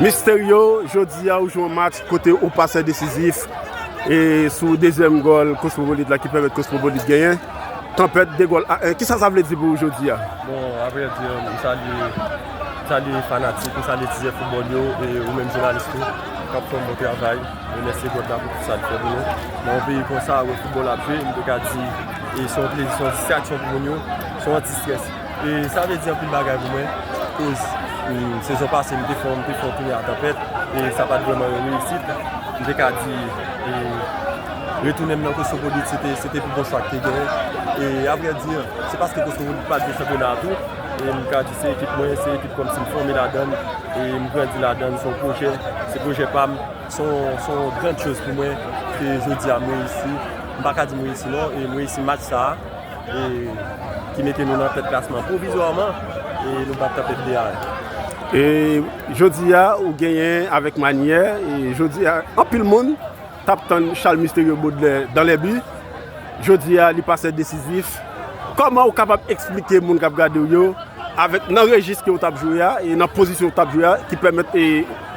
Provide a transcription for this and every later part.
Mysterio jodi a ou jwe yon match kote ou pase desizif e sou dezyèm gòl Cosmopolite la ki pèmèt Cosmopolite genyen Tanpèt 2 gòl a 1 kisa sa vle di pou ou jodi a? Bon avre di m salye m salye fanatik m salye tizè foutbòl yo e ou menm jounalis tou kap fè yon bon travay remèsye God la pou tout sa l fè pou nou nan yon peyi konsa wè foutbòl ap jwe m te ka di se yon plezi se yon distraksyon pou moun yo se yon anti strès. E sa vle di anpil bagay pou mwen koz sezon pase m te fò m te fò tounen a tanpèt e sa pat vrèman yon reyisit m te ka di e retounen m nan koswovolit se te se te pi bon chwa k te genyen e a vrè di se paske koswovolit pat jwe chanpyona a tou e m ka di se ekip mwen se ekip kòm si m fòme ladann e m grandi ladann se yon pwojè se pwojè pa m son son grand choz pou mwen ke jodi a m reyisi m pa ka di m reyisi non e m reyisi match sa a. ki mete nou nan tèt klasman pwovizwaman e nou bat tanpèt li a. E jodi a ou genyen avèk manyè e jodi a anpil moun t ap tann Charles Mysterieux Baudelaire dans les buts jodi a li pase desizif kòman ou kapab eksplike moun k ap gade w yo avèk nan rejis ke ou t ap jwe a e nan pozisyon ou t ap jwe a ki pèmèt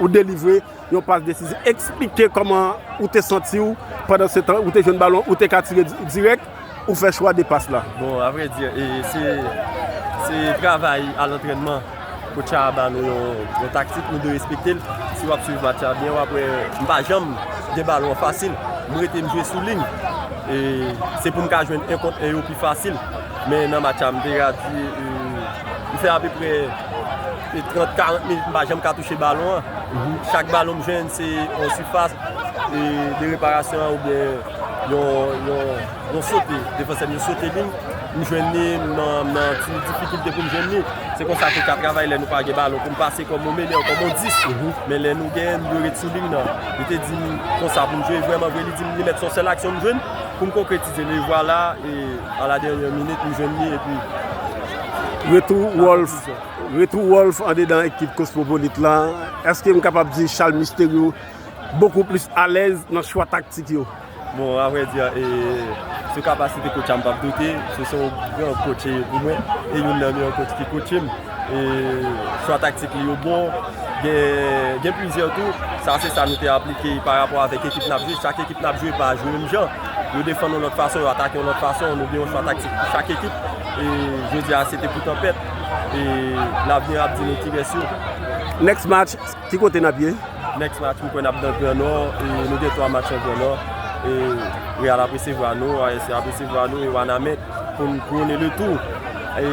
ou delivre Yon pas desizif. Eksplike kòman ou te santi w pandan se tan ou te jwenn balon, ou te ka tire dirèk, ou fè chwa de pas la. Bon, a vrè di, se travay a lantrènman. Kotch la ba nou yon taktik, nou dwe respekte l. Si w ap swiv match la byen, w ap wè m pa janm gen balon an fasil. M rete m jwe sou liy. Se pou m ka jwenn 1 kont 1 yo pi fasil. Men nan match la m te ka di m fè apeprè 30, 40 minit m pa janm ka touche balon an. Chak balon m jwenn se yon sifas de reparasyon an oubyen yon sote. Defansè m yo sote li, m jwenn li, m nan ti difikilte pou m jwenn li. Se konsa koka travay lè nou pa gen balon pou m pase kòm yon menè, kòm yon 10. Men lè nou gen, m dwe ret sou liy nan. Li te di m konsa pou m jwe. Vrèmanvre li di m li mèt son sèl aksyon m jwenn pou m konkretize. Se le vwala e a la dènyè minit nou jwenn li epi. Retou Wolf, retou Wolf andedan ekip Kosmopolit la, èske m kapab di Charles Mysterieux bokou plis alèz nan chwa taktik yo? Bon, a vrè di, sou kapasite kotch la m pap doute, se son gran kotch li ye pou mwen, e youn nan meyè kotch ki kotche m, e chwa taktik li yo bon, gen plizyè tou, sa se sa nou te aplike pa rapò avèk ekip n ap jwe, chak ekip n ap jwe pa jwe menm jan. Yo defann yon lòt fason, yo atake yon lòt fason, nou gen yon chwa taktik pou chak ekip. E jodi a se te pou tanpèt. E lavni ap di nou kiyès yo. Next match, ki kote n ap ye? Next match mwen kwè n ap nan gran nò. E nou gen 3 match nan gran nò. E Real ap resevwa nou, ASC ap resevwa nou e Wanament pou n kouwone le tou. E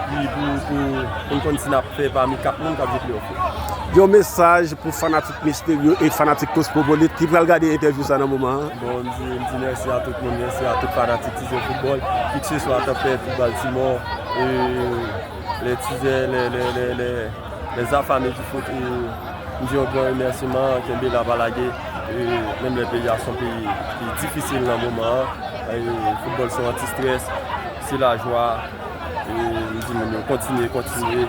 pi pou n konn si n ap fè pami 4 moun k ap jwe play off yo. Yon mesaj pou fanatik. Misterio e fanatik Cosmopolite ki pral gade entèvyou sa nan moman an. Bon, m di, m di mèsi a tout moun, mèsi a tout fanatik Tizè Foutbòl, ki ke se swa k ap fè pou Baltimò, e lè Tizè, lè, lè, lè, lè, les affamés du foot, e m di yon gran remèsiman, kenbe la pa lage, e menm lè peyi a s on peyi ki difisil nan moman an, e foutbòl se yon anti-stress, se lajwa, e m di moun yo kontinye, kontinye.